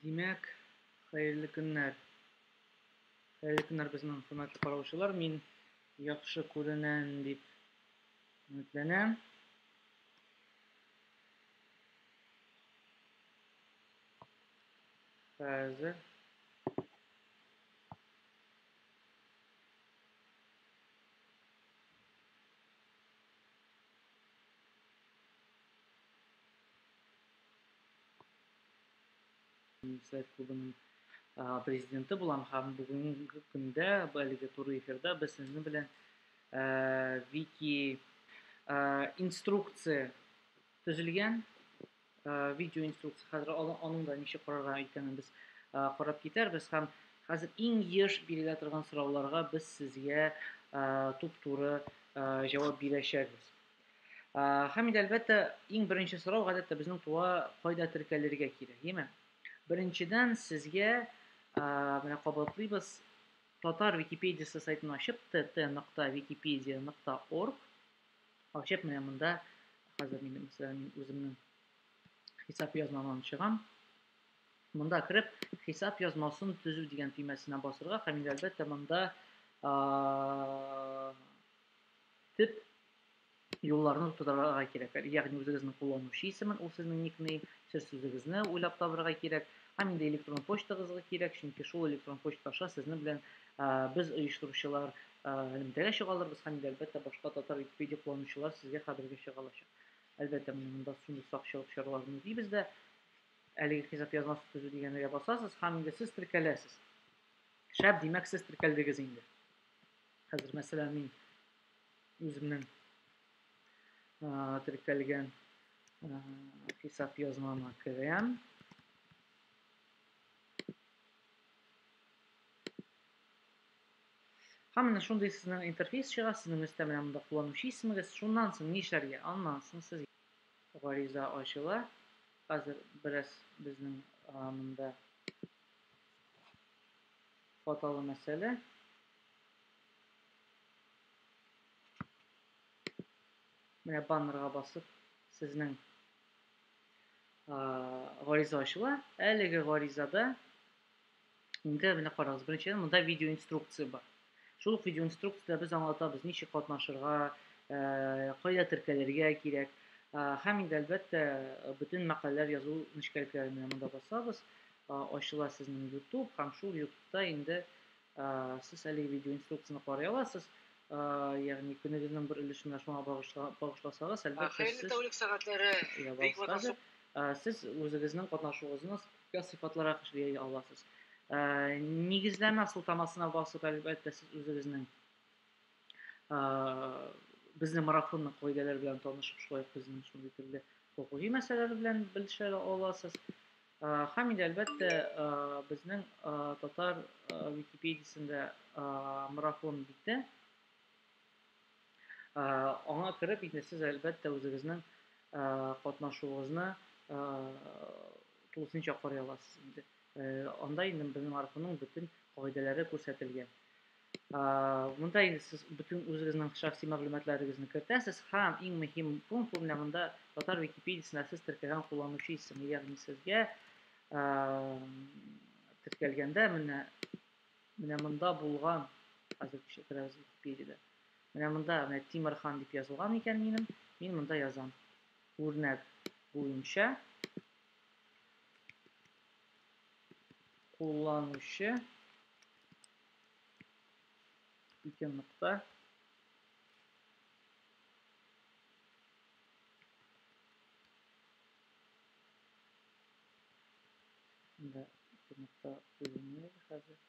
Димәк, хәерле көннәр. Хәерле көннәр безнең хөрмәтле караучылар. Мин яхшы күренәм дип өметләнәм. Хәзер университет клубының президенты булам һәм бүгенге көндә әлеге туры эфирда без сезнең белән вики инструкция төзелгән э, видео инструкция хәзер аның да ничек карарга икәнен без э, карап китәрбез һәм хәзер иң еш бирелә торган сорауларга без сезгә э, туп-туры җавап бирәчәкбез. Һәм инде әлбәттә иң беренче сорау гадәттә безнең туа кайда теркәлергә кирәк, яме? Беренчедән сезгә менә кабатлыйбыз татар википедиясе сайтын ачып tt.wikipedia.org Алчеп менә монда хәзер мин үзем үземнең хисап язмамны чыгам. Монда кереп, хисап язмасын төзү дигән төймәсенә басырга һәм инде әлбәттә монда төп юлларны тудырырга кирәк. Ягъни үзегезнең кулланучы исемен, ул сезнең никнейм, сер сүзегезне уйлап табырга кирәк. Һәм инде электрон почтагызга кирәк, чөнки шул электрон почта аша сезнең белән без оештыручылар элемтәгә чыга алырбыз һәм инде әлбәттә башка татар Википедия кулланучылар сезгә хәбәргә чыга алачак. Әлбәттә, менә монда шундый сакчылык чараларын үтибез дә. Әлеге хисап язмасы төзү дигәнергә басасыз һәм инде сез теркәләсез. Шәп, димәк, сез теркәлдегез инде. Хәзер, мәсәлән, мин үземнең теркәлгән хисап язмама керәм. Һәм менә шундый сезнең интерфейс чыга, сезнең өстә менә монда кулланучы исемегез. Шуннан соң нишләргә? Аннан соң сез гариза ачыла. Хәзер бераз безнең монда хаталы мәсьәлә. Менә баннерга басып, сезнең гариза ачыла. Әлеге гаризада Инде менә карагыз, беренчедән монда видео инструкция бар. Шул видео инструкцияда без аңлатабыз, ничек катнашырга, э, кайда теркәлергә кирәк. Э, һәм инде әлбәттә бөтен мәкаләләр язу нечкәлекләре менә монда басабыз, э, ачыла сезнең YouTube һәм шул YouTube-та инде э, сез әлеге видео инструкцияне карый аласыз. Э, ягъни көнегезнең бер өлешен менә шуңа багышласагыз, әлбәттә сез... Хәерле тәүлек сәгатьләре. Бик ватасып. Сез үзегезнең катнашуыгызны Күпкә сыйфатлырак эшли аласыз. Ә, нигезләмә сылтамасына басып, әлбәттә, сез үзегезнең ә, безнең марафонның кагыйдәләре белән танышып, шулай ук безнең шундый төрле хокукый мәсьәләләр белән белешә аласыз. Һәм инде әлбәттә безнең татар Википедиясендә марафон бите Аңа кереп, инде сез, әлбәттә, үзегезнең катнашуыгызны тулысынча карый аласыз инде. Анда инде безнең архивның бөтен кагыйдәләре күрсәтелгән. Монда инде сез бөтен үзегезнең шәхси мәгълүматларыгызны кертәсез һәм иң мөһим пункт менә монда татар википедиясендә сез теркәгән кулланучы исеме, ягъни сезгә теркәлгәндә менә Менә монда булган, хәзер күрсәтерәбез Википедиядә. Менә монда менә Тимерхан дип язылган икән минем. Мин монда язам. Үрнәк буенча кулланучы ике нокта Да, интернетта уйный әле хәзер.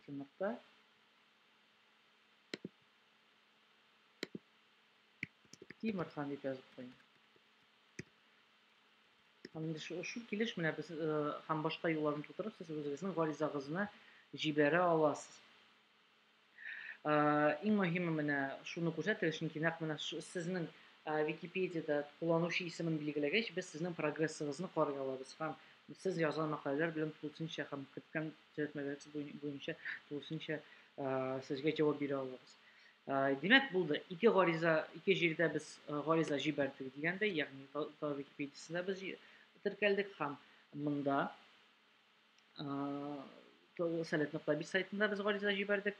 Чынлыкта Тимерхан дип язып куйдым. Һәм инде шу, шу килеш менә без э, һәм башка юлларны тутырып сез үзегезнең гаризагызны җибәрә аласыз. Иң мөһиме менә шуны күрсәтегез, чөнки нәкъ менә сезнең Википедиядә кулланучы исемен билгеләгәч, без сезнең прогрессыгызны карый алабыз һәм сез язган мәкаләләр белән тулысынча һәм керткән төзәтмәләрегез буенча тулысынча сезгә җавап бирә алабыз. Димәк, булды. Ике гариза, ике җирдә без гариза җибәрдек дигәндәй, ягъни Википедиясендә без теркәлдек һәм монда совет нокта бит сайтында без гариза җибәрдек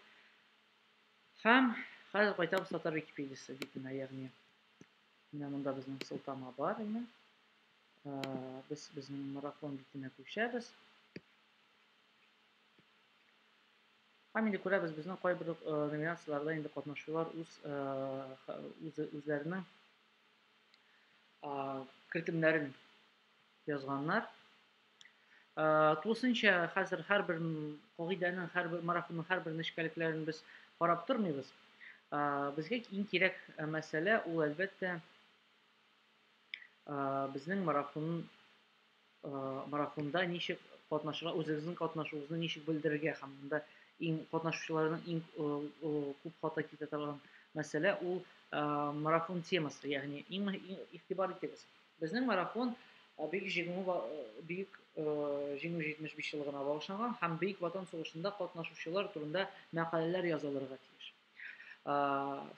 һәм хәзер кайтабыз татар википедиясе битенә ягъни менә монда безнең сылтама бар инде без безнең марафон битенә күчәбез һәм инде күрәбез безнең кайбер номинацияләрдә инде катнашучылар үз үзләренең кертемнәрен язганнар Э, тулысынча хәзер һәрбер кагыйдәнең, һәрбер марафонның һәрбер нечкәлекләрен без карап тормыйбыз. Э, безгә иң кирәк э, мәсьәлә ул әлбәттә безнең марафон марафонда ничек катнашырга, үзегезнең катнашуыгызны ничек белдерергә һәм монда иң катнашучыларның иң күп хата китә торган мәсьәлә ул марафон темасы, ягъни иң игътибар итегез. Безнең марафон Бөек Җиңү Бөек Җиңү 75 еллыгына багышланган һәм Бөек Ватан сугышында катнашучылар турында мәкаләләр язылырга тиеш.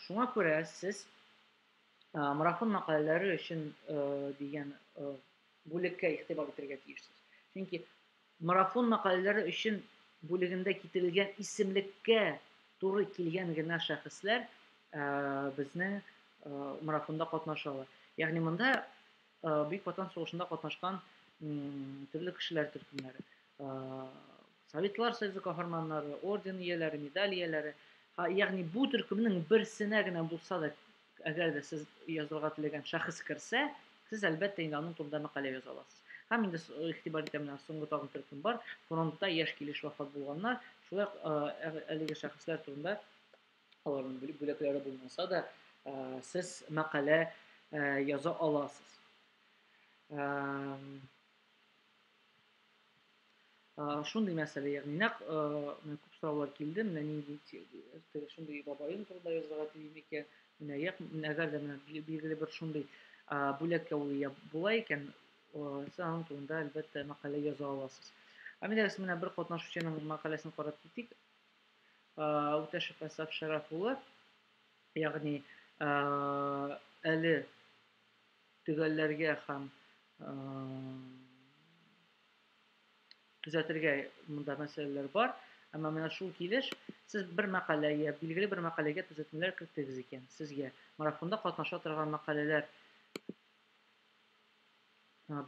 Шуңа күрә сез марафон мәкаләләре өчен дигән бүлеккә игътибар итәргә тиешсез. Чөнки Марафон мәкаләләре өчен бүлегендә китерелгән исемлеккә туры килгән генә шәхесләр безнең марафонда катнаша ала. Ягъни монда Бөек Ватан сугышында катнашкан төрле кешеләр төркемнәре, Советлар Союзы каһарманнары, орден ияләре, медаль ияләре, ягъни бу төркемнең берсенә генә булса да Әгәр дә сез язылырга теләгән шәхес керсә, сез әлбәттә инде аның турында мәкалә яза аласыз. Һәм инде игътибар итәм менә соңгы тагын төркем бар. Фронтта яшь килеш вафат булганнар. Шулай ук ә, әлеге шәхесләр турында аларның бүләкләре булмаса да, сез мәкалә яза аласыз. шундый мәсьәлә ягъни нәкъ менә күп сораулар килде менә нинди теге шундый бабаем турында язырга телим икән менә як әгәр дә менә билгеле бер шундый бүләк яулый була икән сез аның турында әлбәттә мәкалә яза аласыз әмиләрс менә бер катнашучының мәкаләсен карап китик үтәшев әсаф шәрәф улы ягъни әле төгәлләргә һәм төзәтергә монда мәсьәләләр бар. Әмма менә шул килеш сез бер мәкаләгә, билгеле бер мәкаләгә төзәтмәләр керттегез икән, сезгә марафонда катнаша торган мәкаләләр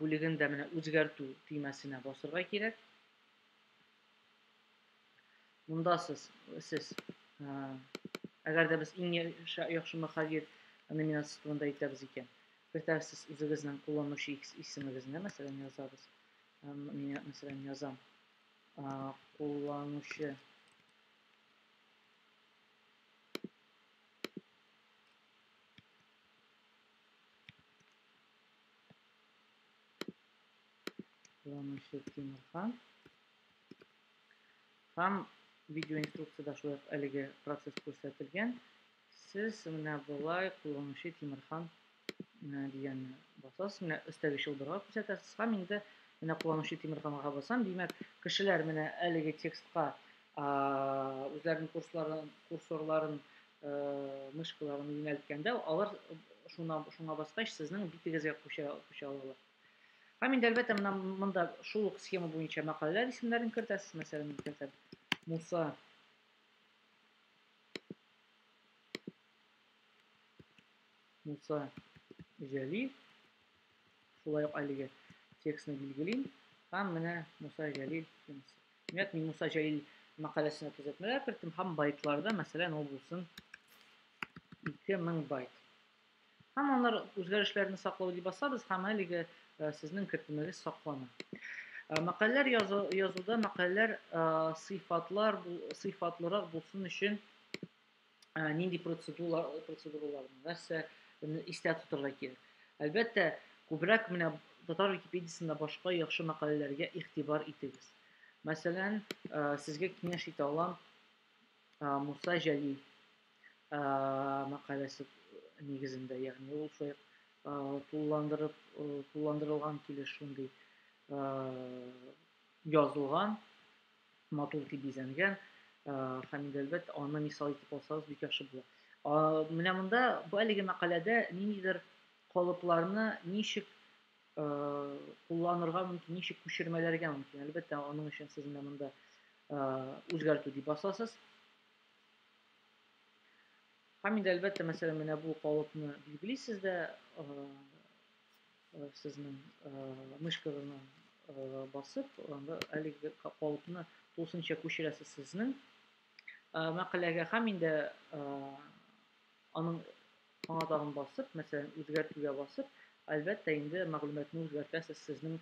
бүлеген дә менә үзгәртү төймәсенә басырга кирәк. Монда сез, сез ә, әгәр дә без иң яхшы мөхәррир номинациясе турында әйтәбез икән, кертәрсез үзегезнең кулланучы исемегезне, мәсәлән, язабыз. Ә, мин, мәсәлән, язам. Ә, кулланучы Кулланучы Тимирхан. Һәм видеоинструкцияда шулай ук әлеге процесс күрсәтелгән. Сез менә болай кулланучы Тимирхан э, дигәнне басасыз. Менә өстәге чылбырга күрсәтәсез һәм инде менә кулланучы Тимирханга басам. Димәк, кешеләр менә әлеге текстка үзләренең курсларын, курсорларын, э, мышкаларын юнәлткәндә, алар шуна, шуңа баскач, сезнең битегезгә күчә, күчә алалар. Һәм инде әлбәттә менә монда шул ук схема буенча мәкаләләр исемнәрен кертәсез. Мәсәлән, мин кертәм Муса Муса Җәлил. Шулай ук әлеге текстны билгелим. Һәм менә Муса Җәлил. Димәк, мин Муса Җәлил мәкаләсенә төзәтмәләр керттем һәм байтларда, мәсәлән, ул булсын 2000 байт. Һәм аннар үзгәрешләрне саклау дип басабыз һәм әлеге э, сезнең кертемегез саклана. Э, мәкаләләр язу, язуда мәкаләләр э, сыйфатлар сыйфатлырак булсын өчен нинди процедуралар процедуралар нәрсә истә тотарга кирәк. Әлбәттә, күбрәк менә татар Википедиясендә башка яхшы мәкаләләргә игътибар итегез. Мәсәлән, сезгә киңәш итә алам Муса Җәлил мәкаләсе нигезендә, ягъни ул шулай тулыландырып тулыландырылган килеш шундый язылган, матур итеп бизәнгән һәм инде әлбәттә аны мисал итеп алсагыз бик яхшы була. Менә монда бу әлеге мәкаләдә ниндидер калыпларны ничек кулланырга мөмкин, ничек күчермәләргә мөмкин. Әлбәттә, аның өчен сез менә монда үзгәртү дип басасыз. Һәм инде әлбәттә, мәсәлән, менә бу калыпны билгелисез дә, сезнең мышкагызны басып, анда әлеге калыпны тулысынча күчерәсез сезнең мәкаләгә һәм инде Аның аңа тагын басып, мәсәлән, үзгәртүгә басып, әлбәттә инде мәгълүматны үзгәртәсез, сезнең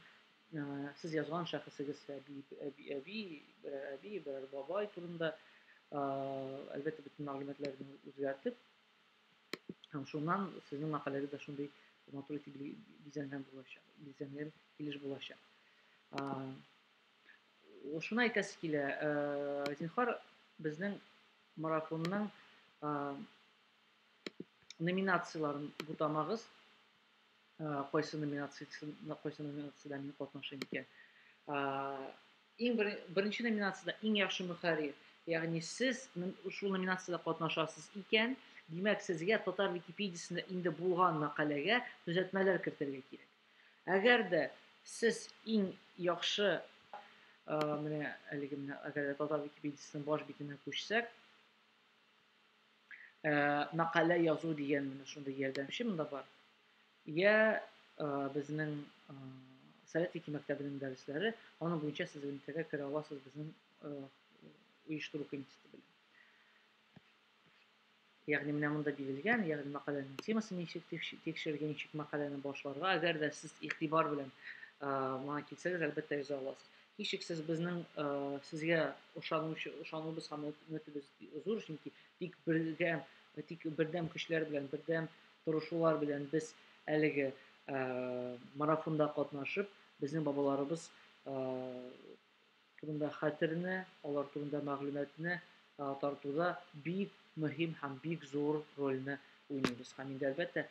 сез язган шәхесегез әби, әби, әби, берәр әби, берәр бабай турында, әлбәттә бөтен мәгълүматларны үзгәртеп, һәм шуннан сезнең мәкаләгез дә шундый матур итеп бизәнгән булачак, бизәнгән килеш булачак. Шуны әйтәсе килә, зинхар, безнең Марафонның номинацияләрен бутамагыз. Кайсы номинациясендә, кайсы номинациядә мин катнашым икән. Иң беренче номинацияда иң яхшы мөхәррир. Ягъни сез шул номинациядә катнашасыз икән, димәк, сезгә татар Википедиясендә инде булган мәкаләгә төзәтмәләр кертергә кирәк. Әгәр дә сез иң яхшы менә әлеге менә әгәр дә татар википедиясенең баш битенә күчсәк, мәкалә язу дигән менә шундый ярдәмче монда бар. Я безнең Совет Вики мәктәбенең дәресләре, аның буенча сез элемтәгә керә аласыз безнең оештыру комитеты белән. Ягъни менә монда бирелгән, ягъни мәкаләнең темасы ничек дип тикшерергә, ничек мәкаләне башларга. Әгәр дә сез игътибар белән моңа килсәгез, әлбәттә яза аласыз. Һичшиксез безнең сезгә ышанучы, ышануыбыз һәм өметебез зур, чөнки тик бергә, тик бердәм көчләр белән, бердәм торышулар белән без әлеге марафонда катнашып, безнең бабаларыбыз турында хәтерне, алар турында мәгълүматны тартуда бик мөһим һәм бик зур рольне уйныйбыз. Һәм инде әлбәттә,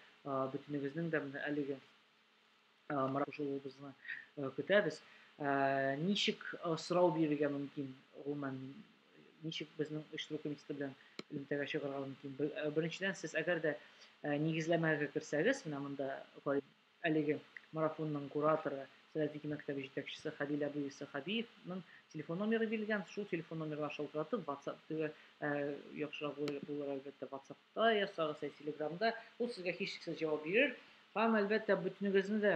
бөтенегезнең дә менә әлеге маракушылуыбызны көтәбез. Ничек сорау бирергә мөмкин, гомумән, ничек безнең оештыру комитеты белән элемтәгә чыгарга мөмкин? Беренчедән, сез әгәр дә нигезләмәгә керсәгез, менә монда Әлеге марафонның кураторы, Сәләфики мәктәбе җитәкчесе Хәлил әбү Иссәхәбиевның телефон номеры бирелгән. Шул телефон номерга шалтыратып, WhatsApp теге яхшырак булыр, әлбәттә, WhatsApp-та ясагыз, ә Telegram-да. Ул сезгә һичшиксез җавап бирер. Һәм, әлбәттә, бөтенегезне дә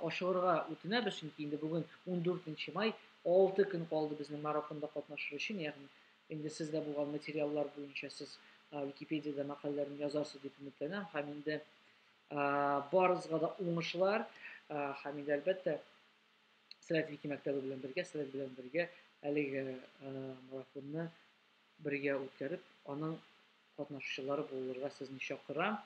ашыгырга үтенәбез, чөнки инде бүген 14 май, 6 көн калды безнең марафонда катнашыр өчен, ягъни Инде сездә булган материаллар буенча сез Википедиядә мәкаләләрен язарсыз дип өметләнәм һәм инде барыгызга да уңышлар һәм инде әлбәттә Сәләт Вики мәктәбе белән бергә, Сәләт белән бергә әлеге марафонны бергә үткәреп, аның катнашучылары булырга сезне чакырам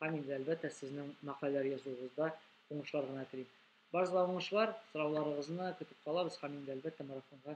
һәм инде әлбәттә сезнең мәкаләләр язуыгызда уңышлар гына телим. Барыгызга уңышлар, сорауларыгызны көтеп калабыз һәм инде әлбәттә марафонга